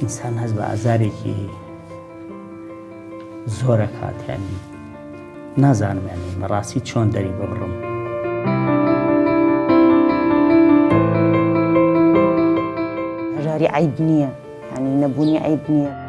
ئینسان هەست بە ئازارێکی زۆرە کاتیانی نازانمێنی بەڕاستی چۆن دەری ببڕم. ژاری عیب نییە هەنی نەبوونی عیب نییە.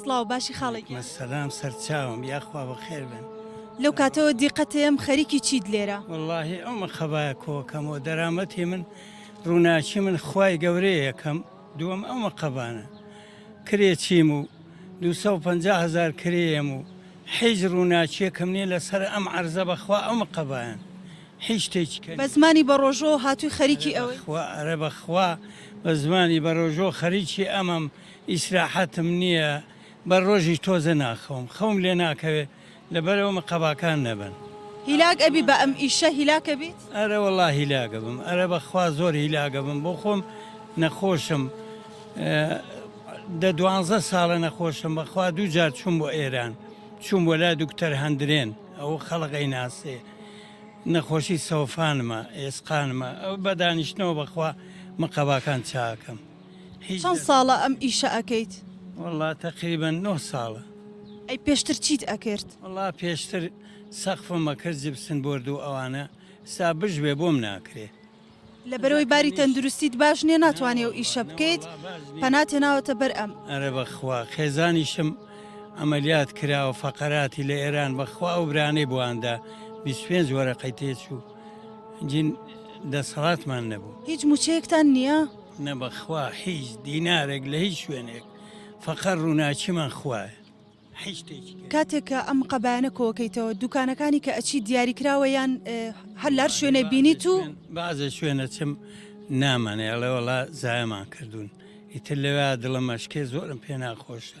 سڵاو باشی خاڵێ گیان. سەلام سەرچاوم یاخوا بەخێر بن. لەو کاتەوە دیقەتێم خەریکی چیت لێرە. وەڵاهی ئەو مەقەبایە کۆکەمەوە دەرامەتی من ڕووناکی من خوای گەورەیە یەکەم دووەم ئەو مەقەبانە کرێ چیم و 250 هزار کرێم و حیج ڕووناچیەکەم نیە لەسەر ئەم عرزە بەخوا ئەو مقەبایان هیچ شتێکی کە بە زمانی بە ڕۆژۆ هاتووی خەریکی ئەوەی ئەرە بەخوا بە زمانی بە ڕۆژۆ خەریکی ئەمەم ئیسراحەتم نیە بە ڕۆژیش تۆزە ناخەوم خەوم لێ ناکەوێت لەبەرئەوە من قەباکان نەبن. هیلاک ئەبی بە ئەم ئیشە هیلاک ئەبیت. ئەرە وەڵا هیلاک ئەبم ئەرە بەخوا زۆر هیلاک ئەبم بۆ خۆم نەخۆشم دە دوانزە ساڵە نەخۆشم بەخوا دوو جار چووم بۆ ئێران چووم بۆ لای دوکتەر هەندرێن ئەوە خەڵق ئەیناسێ نەخۆشی سەوفانمە ئێسقانمە بە دانیشتنەوە بەخوا من قەباکان چاکەم. چەند ساڵە ئەم ئیشە ئەکەیت؟ وەڵا تەقریبەن نۆ ساڵە. ئەی پێشتر چیت ئەکرد؟ وەڵا پێشتر سەقفم ئەکرد جبسن بۆرد و ئەوانە ئیستا بژبێ بۆم ناکرێ. لەبەرەوەی باری تەندروستیت باش نیە ناتوانی ئەو ئیشە بکەیت پەنات هێناوەتە بەر ئەم. ئەرە بەخوا خێزانیشم عەمەلیات کراوە فەقەراتی لە ئێران بەخوا ئەو برانەی بۆیاندا بیست پێنج وەرەقەی تێچوو جین دەسەڵاتمان نەبوو. هیچ موچەیەکتان نیە؟ نەبەخوا هیچ دینارێک لە هیچ شوێنێک فەقەر ڕووناچیمان خوایە هیچ شتێکی کە کاتێک کە ئەم قەبایانە کۆکەیتەوە دوکانەکانی کە ئەچی دیاری کراوە یان اه، هەر لار شوێنێ بینیت و بازە شوێنە چم نامانێڵێ وڵا زایمان کردوون ئیتر لەوێ دڵم مەشکێ زۆرم پێ ناخۆشە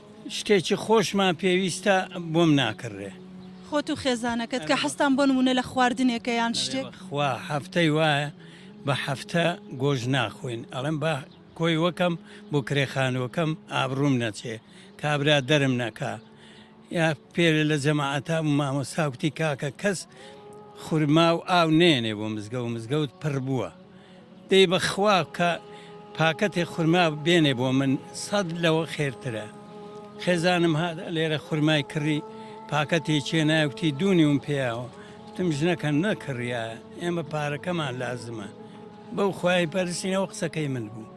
شتێکی خۆشمان پێویستە بۆم ناکڕرێ. خۆت و خێزانەکەت کە حەزتان بۆ نموونە لە خواردنێکە یان شتێک؟ ئەرێ بەخوا هەفتەی وایە بە هەفتە گۆشت ناخۆین ئەڵێم با کۆی وەکەم بۆ کرێ خانووەکەم ئابڕووم نەچێ کابرا دەرم نەکا یا پێرێ لە جەماعەتا بوو مامۆستا کوتی کاکە کەس خورما و ئاو نێنێ بۆ مزگەوت مزگەوت پڕ بووە. دەی بەخوا کە پاکەتێ خورما بێنێ بۆ من سەد لەوە خێرترە خێزانم هات لێرە خورمای کڕی پاکەتی چێناوتی دوونیوم پێیاوە وتم ژنەکە نەکڕیا ئێمە پارەکەمان لازمە بەو خوای پەرسینەوە قسەکەی من بوو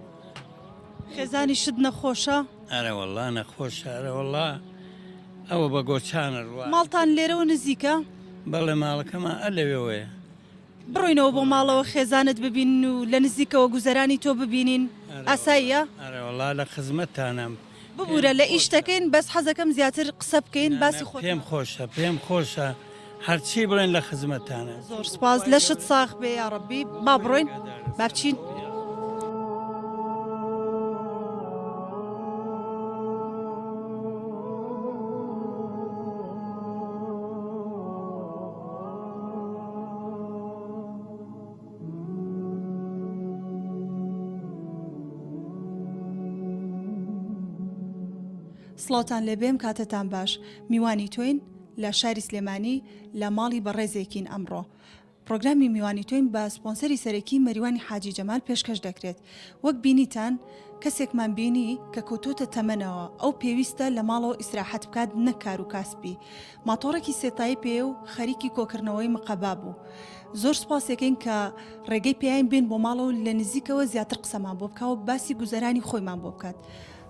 خێزانی شت نەخۆشە؟ ئەرە والله نەخۆشە ئەرە والله ئەوە بە گۆچانە ڕوە ماڵتان لێرەوە نزیکە؟ بەڵێ ماڵەکەمان ئە لەوێوەیە بڕۆینەوە بۆ ماڵەوە خێزانت ببینن و لە نزیکەوە گوزەرانی تۆ ببینین ئاساییە؟ ئەرێ وەڵا لە خزمەتتانم. ببورە لە ئیش دەکەین بەس حەزەکەم زیاتر قسە بکەین باسی خۆت. پێم خۆشە پێم خۆشە هەرچی بڵێن لە خزمەتتانم. زۆر سوپاس لەشت ساغ بێ یاڕەبی با بڕۆین با بچین. سڵاوتان لێبێم کاتتان باش میوانی تۆین لە شاری سلێمانی لە ماڵی بەڕێزێکین ئەمڕۆ پرۆگرامی میوانی تۆین بە سپۆنسەری سەرەکی مەریوانی حاجی جەمال پێشکەش دەکرێت وەک بینیتان کەسێکمان بینی کە کەوتۆتە تەمەنەوە ئەو پێویستە لە ماڵەوە ئیسراحەت بکات نەکار و کاسپی ماتۆڕێکی سێ تای پێیە و خەریکی کۆکردنەوەی مقەبا بوو. زۆر سوپاسیەکەین کە ڕێگەی پێیاین بێن بۆ ماڵەوە و لە نزیکەوە زیاتر قسەمان بۆ بکا و باسی گوزەرانی خۆیمان بۆ بکات.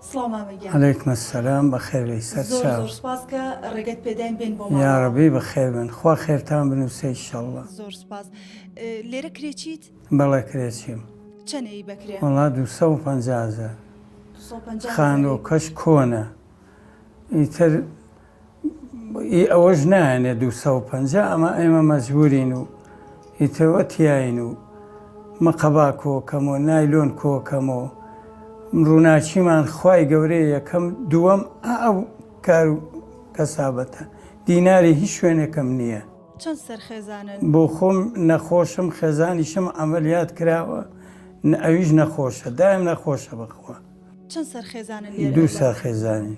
سڵاو مامە گیان. علیکم السلام بەخێر بێی سەر چاو. زۆر زۆر سوپاس کە ڕێگەت پێداین بێن بۆ ماڵەوە. یاڕەبی بەخێر بن. خوا خێرتان بنووسێ ئیشەڵڵا. زۆر سوپاس. لێرە کرێچیت؟ بەڵێ کرێچیم. چەنە ی بە کرێ؟ وەڵا دوو سەد و پەنجا هەزار. دوو سەد و پەنجا هەزار. خانووکەش کۆنە ئیتر. ئی ئەوەش نایەنێ دوو سەد و پەنجا ئەمە ئێمە مەجبورین و ئیترەوە تیاین و مقەبا کۆکەم و نایلۆن کۆکەم و ڕووناچیمان خوای گەورەیە یەکەم دووەم ئەو کار و کەسابەتە دیناری هیچ شوێنێکم نییە. چەند سەرخێزانن؟ بۆ خۆم نەخۆشم خێزانیشم عەمەلیات کراوە ئەویش نەخۆشە دایم نەخۆشە بەخوا. چەند سەرخێزانن لێرە؟ دوو سەرخێزانین.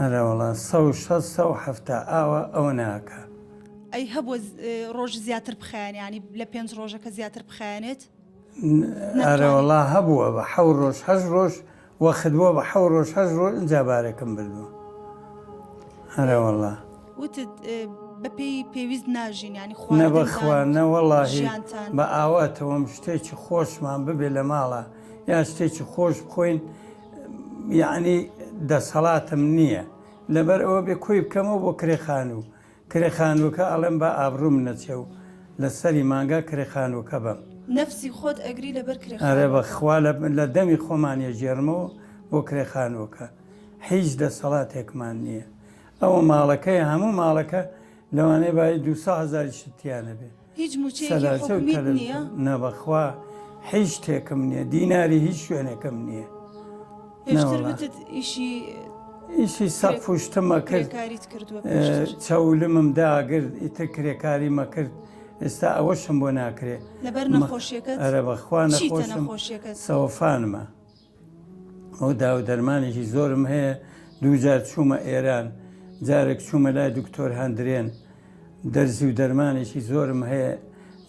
ئەرەوەڵا سەو شەست سەو حەفتا ئاوا ئەوە ناکا. ئەی هەبوە ڕۆژ زیاتر بخایەنێ یانی لە پێنج ڕۆژەکە زیاتر بخایەنێت؟ ئەرەوەڵا هەبووە بە حەو ڕۆژ هەشت ڕۆژ وەخت بووە بە حەو ڕۆژ هەشت ڕۆژ ئینجا بارەکەم بردووە ئەرەوەڵا. وتت بەپێی پێویست ناژین یانی خواردن. نەبەخوا نەوەڵاهی بە ئاواتەوەم شتێکی خۆشمان ببێ لە ماڵا یا شتێکی خۆش بخۆین، یەعنی دەسەڵاتم نیە لەبەر ئەوە بێ کۆی بکەمەوە بۆ کرێ خانوو کرێ خانووەکە ئەڵێم با ئابڕووم نەچێ و لە سەری مانگا کرێ خانووەکە بەم. نەفسی خۆت ئەگری لەبەر کرێ خانووەکە. ئەرێ بە خوا لە دەمی خۆمان ئەگێڕمەوە بۆ کرێ خانووەکە هیچ دەسەڵاتێکمان نیە ئەوە ماڵەکەیە هەموو ماڵەکە لەوانەیە بایی دوو سەد هەزاریشت تیا نەبێ. هیچ موچەیەکی حکومیت نیە؟ نە بەخوا هیچ شتێکم نیە دیناری هیچ شوێنێکم نیە ئیشی سە پشتمە کرد چەولمم داگرت ئیتر کرێکاری مەکرد ئێستا ئەوەشم بۆ ناکرێت لەبەر نەخۆشیەکە ئەرە بەخوا نەخۆشم سەوفانمە ئەو داو دەرمانێکی زۆرم هەیە دووجار چوومە ئێران جارێک چوومە لای دکتۆر هەندرێن دەرزی و دەرمانێکی زۆرم هەیە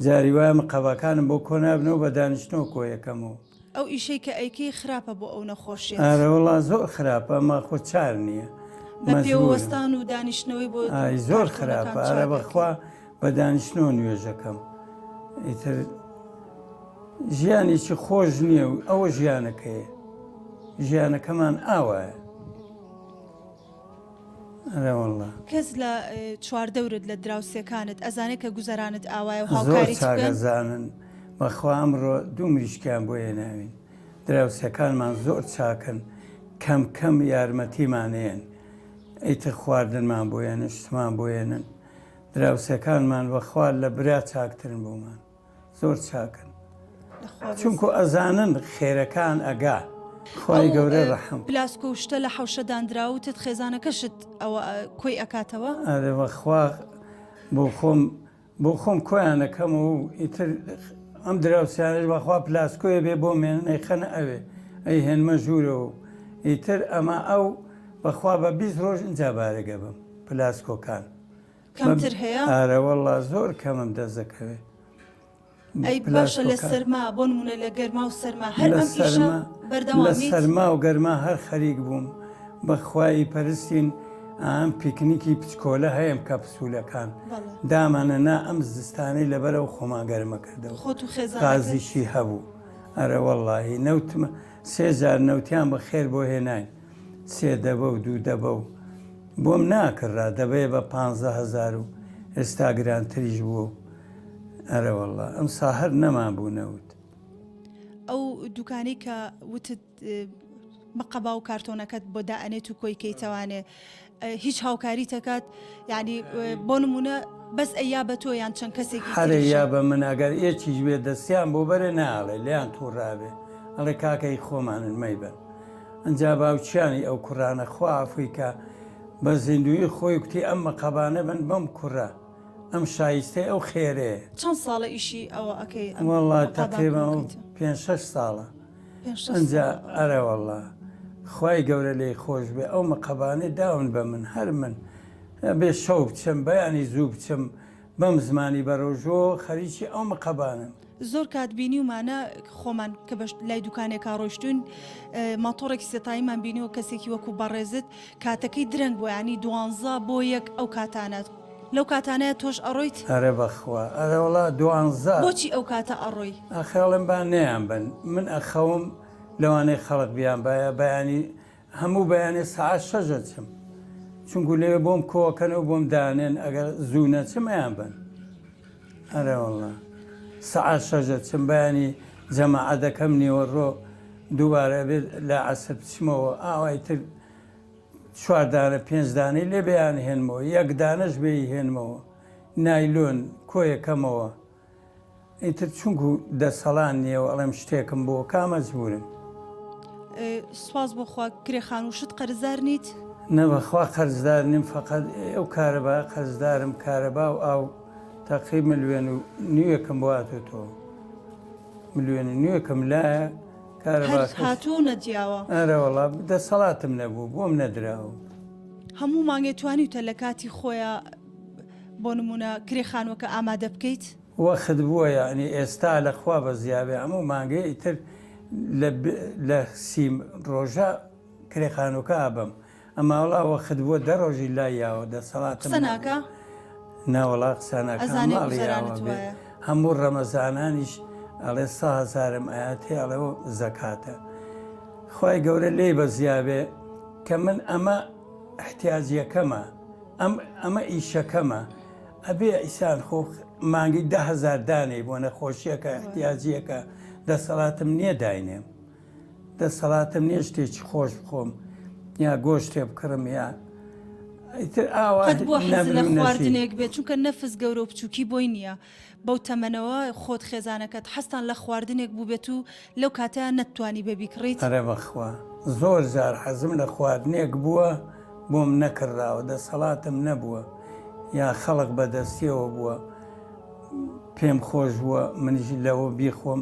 جاری وایمە قەباکانم بۆ کۆنابنەوە بە دانیشتنەوە کۆیەکەم و ئەو ئیشەی کە ئەیکەی خراپە بۆ ئەو نەخۆشیە ئارەوەڵا زۆر خراپە ئەمە خۆ چار نییە بە پێوەستان و دانیشتنەوەی بۆ زۆر خراپە ئارە بەخوا بە دانیشتنەوە نوێژەکەم. ئیتر ژیانێکی خۆش نییە و ئەوە ژیانەکەیە. ژیانەکەمان ئاوایە. ئەرێ واللە. کەس لە چواردەورت لە دراوسێکانت ئەزانێت کە گوزەرانت ئاوایە و زۆر هاوکاریت بکەن؟ چاگەزانن. بەخوا ئەمڕۆ دوو مریشکیان بۆ هێناوین. دراوسێکانمان زۆر چاکن. کەم کەم یارمەتیمان ئەیەن. ئیتر خواردنمان بۆ یەن، شتمان بۆ یەنن. دراوسێکانمان بەخوا لە برا چاکترن بۆمان زۆر چاکن چونکو ئەزانن خێرەکان ئەگا خوای گەورە ڕەحم پلاسکۆ و شتە لە حەوشە دانراوتت خێزانەکەشت ئەوە کۆی ئەکاتەوە ئەرێ بەخوا بۆ خۆم بۆ خۆم کۆیانەکەم و ئیتر ئەم دراوسیانش بەخوا پلاسکۆیە بێ بۆ مێنەی خەنە ئەوێ ئەی هێنمە ژوورەوە و ئیتر ئەمە ئەو بەخوا بە بیست ڕۆژ ئینجا بارەگە بم پلاسکۆکان کەمتر هەیە؟ ئارە وەڵا زۆر کەمم دەست دەکەوێت. ئەی باشە لە سەرما بۆ نمونە لە گەرما و سەرما هەر ئەم ئیشە بەردەوام لە سەرما و گەرما هەر خەریک بووم بەخوای پەرستین ئەم پیکنیکی پچکۆلە هەیەم کە پسوولەکان دامانە نا ئەم زستانی لەبەرەوە خۆمان گەرمە کردەوە خۆ و خێزازیشی هەبوو ئەرە وەڵی نەوتمە سێزار نەوتیان بە خێر بۆ هێناین سێ دەبە و دوو دەبە و بۆم ناکڕرا دەبەیە بە پانزە هەزار و ئێستا گرانتریش بووە و ئەرەوەڵڵا ئەمسا هەر نەمان بوو نەوت. ئەو دوکانەی کە وتت مقەبا و کارتۆنەکەت بۆ دائەنێت و کۆیکەیتەوانێ هیچ هاوکاریت ئەکات یانی بۆ نمونە بەس ئەیا بە تۆ یان چەند کەسێکی هەرێ تریشە؟ یا بە من ئەگەر ئێکیش بێ دەستیان بۆ بەرێ ناڵێ لێیان تووڕابێ ئەڵێ کاکە هی خۆمانن مەیبەن ئەنجا باوکیانی ئەو کوڕانە خوا عەفوی کا بە زیندوویی خۆی کوتی ئەم مەقەبانە بن بەم کوڕە ئەم شایستەی ئەو خێرەیە. چەند ساڵە ئیشی ئەوە ئەکەی ئەم وەڵا مەقابان تەقریبەن کۆکەیتە؟ پێنج شەش ساڵە. ئەجا ئەرەوەڵا خی گەورە لی خۆش بێ ئەو مەقەبانێ داون بە من هەر من بێ شەو بچم بەیانی زوو بچم بەم زمانی بەرۆژۆ خەریکی ئەو مەقەبانم. زۆر کات بینیومانە خۆمان کە بە لای دوکانێکا ڕۆشتون ماتۆڕێکی سێتاییمان بینیوە کەسێکی وەکو بەڕێزت کاتەکەی درەنگ بۆیانی دوانزە بۆ یەک ئەو کاتانە. لەو کاتانەیە تۆش ئەڕۆیت؟ ئەرێ بەخوا ئەرێ وەڵا دوانزە. بۆچی ئەو کاتە ئەڕۆی؟ ئەخەڵێم با نەیانبەن من ئەخەوم لەوانەیە خەڵک بیانبایە بەیانی هەموو بەیانێ سەعات شەش ئەچم چونکو لەوێ بۆم کۆکەن و بۆم دانێن ئەگەر زوو نەچم ئەیانبەن ئەرێ وەڵا سەعات شەش ئەچم بەیانی جەماعەت دەکەم نیوەڕۆ دووبارە ئەبێت لە عەسر بچمەوە ئاوای تر چوار دانە پێنج دانەی لێ بیانهێنمەوە یەک دانەش بێی هێنمەوە نایلۆن کۆیەکەمەوە ئیتر چونکو دەسەڵان نییە و ئەڵێم شتێکم بۆ کامەجبورم سواز بۆخوا کرێخان و شت قەرزار نیت نەبەخوا قەرزدار نیم فقط ئەو کارەبا قەرزدارم کارەبا و ئاو تاقی ملوێن و نوێکم بۆاتۆ تۆ ملوێن و نوێکم لایە هەر هاتوو نەجیاوە. ئارەوەڵا دەسەڵاتم نەبوو بۆم نەدراو. هەموو مانگێ توانیوتە لە کاتی خۆیا بۆ نمونە کرێ خانوەکە ئامادە بکەیت؟ وەخت بووە یەعنی ئێستا لەخوا بەزیابێ هەموو مانگێ ئیتر لە سی ڕۆژە کرێ خانوەکە ئابەم. ئەما وەڵا وەخت بوە دە ڕۆژی لا یاوە دەسەڵاتم قسە ناکا نا وەڵا قسە ناکا ئەزانێ ماڵی یاوە گوزەرانت بێ وایە. هەموو ڕەمەزانانیش ئەڵێ سە هەزارم ئەیاتێ ئەڵێ وە زەکاتە خوای گەورە لێی بەزیابێ کە من ئەمە ئحتیاجیەکەمە ئەم ئەمە ئیشەکەمە ئەبێ ئیسان خۆ مانگی دە هەزار دانێی بۆ نەخۆشیەکە ئحتیاجیەکە دەسەڵاتم نیە داینێم دەسەڵاتم نیە شتێکی خۆش بخۆم یا گۆشتێ بکڕم یا ئیتر ئاوا قەت بۆ حەز نەمر لە و نەشی. خواردنێک بێت چونکە نەفس گەورە و بچووکی بۆی نییە بەو تەمەنەوە خۆت خێزانەکەت حەزتان لە خواردنێک بووبێت و لەو کاتە نەتتوانی بێ بیکڕیت ئەرە بەخوا زۆر جار حەزم لە خواردنێک بووە بۆم نەکڕراوە دەسەڵاتم نەبووە یا خەڵک بەدەستیەوە بووە پێم خۆش بووە منیش لەوە بیخۆم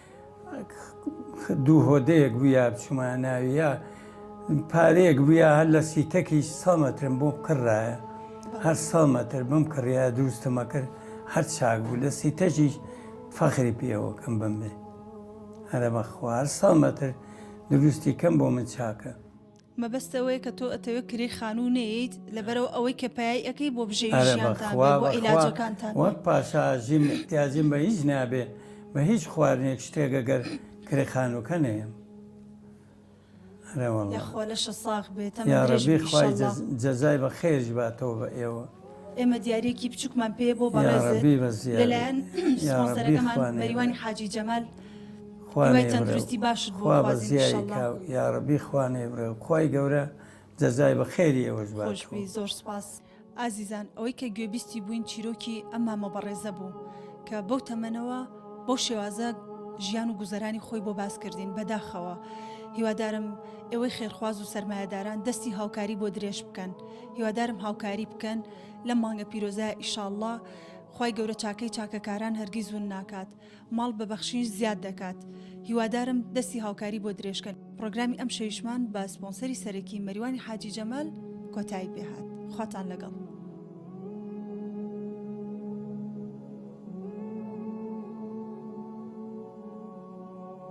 دوو هۆدەیەک بووە بچمە ناویە پارەیەک بووە هەر لە سیتەکی سەمەترم بۆ بکڕایە هەر سەمەتر بم کڕیا دروستمە کرد هەر چاک بوو لە سیتەکی فەخری پێوەکەم بم بێ هەرە بە خوار سەمەتر دروستی کەم بۆ من چاکە مەبەست ئەوەیە کە تۆ ئەتەوێ کرێی خانوو نەیەیت لەبەرئ ئەوەی کە پایەی ئەکەی بۆ بژێوی ئەرێ بە ژیانتان خوا بێ بۆ بە خوا عیلاجەکانتان بێ. وەک پاشا ژیم ئحتیاجم بە هیچ نابێ بە هیچ خواردنێک شتێک گەر کرێ خانووکە نەیەم ئەرێ وەڵا. یاخوا لەشە ساغ بێ تەمەن درێژ یاڕەبی بی خوای ئیشەڵا. جەزای بەخێرش باتەوە بە ئێوە. ئێمە دیاریەکی بچوکمان پێ بۆ بەڕێزت لەلایەن سپۆنسەرەکەمان مەریوانی حاجی جەمال خوای تەندروستی باشت بۆ یاڕبی خوانێ بڕێ خی گەورە جەزای بە خێری ئەوەش باش زۆر سپاس ئازیزان ئەوەی کە گوێبیستی بووین چیرۆکی ئەم مامە بەڕێزە بوو کە بەو تەمەنەوە بەو شێوازە ژیان و گوزەرانی خۆی بۆ باس کردین بەداخەوە هیوادارم ئێوەی خێرخواز و سەرمایهداران دەستی هاوکاری بۆ درێژ بکەن هیوادارم هاوکاری بکەن لەم مانگە پیرۆزە ئیشااللە خی گەورە چاکەی چاکەکاران هەرگی زون ناکات ماڵ بە بەخشین زیاد دەکات هیوادارم دەستی هاوکاری بۆ درێژکەن پرۆگرامی ئەم شەویشمان بە سپۆنسەری سەرەکی مەریوانی حاجی جەمال کۆتایی پێهات خواتان لەگەڵ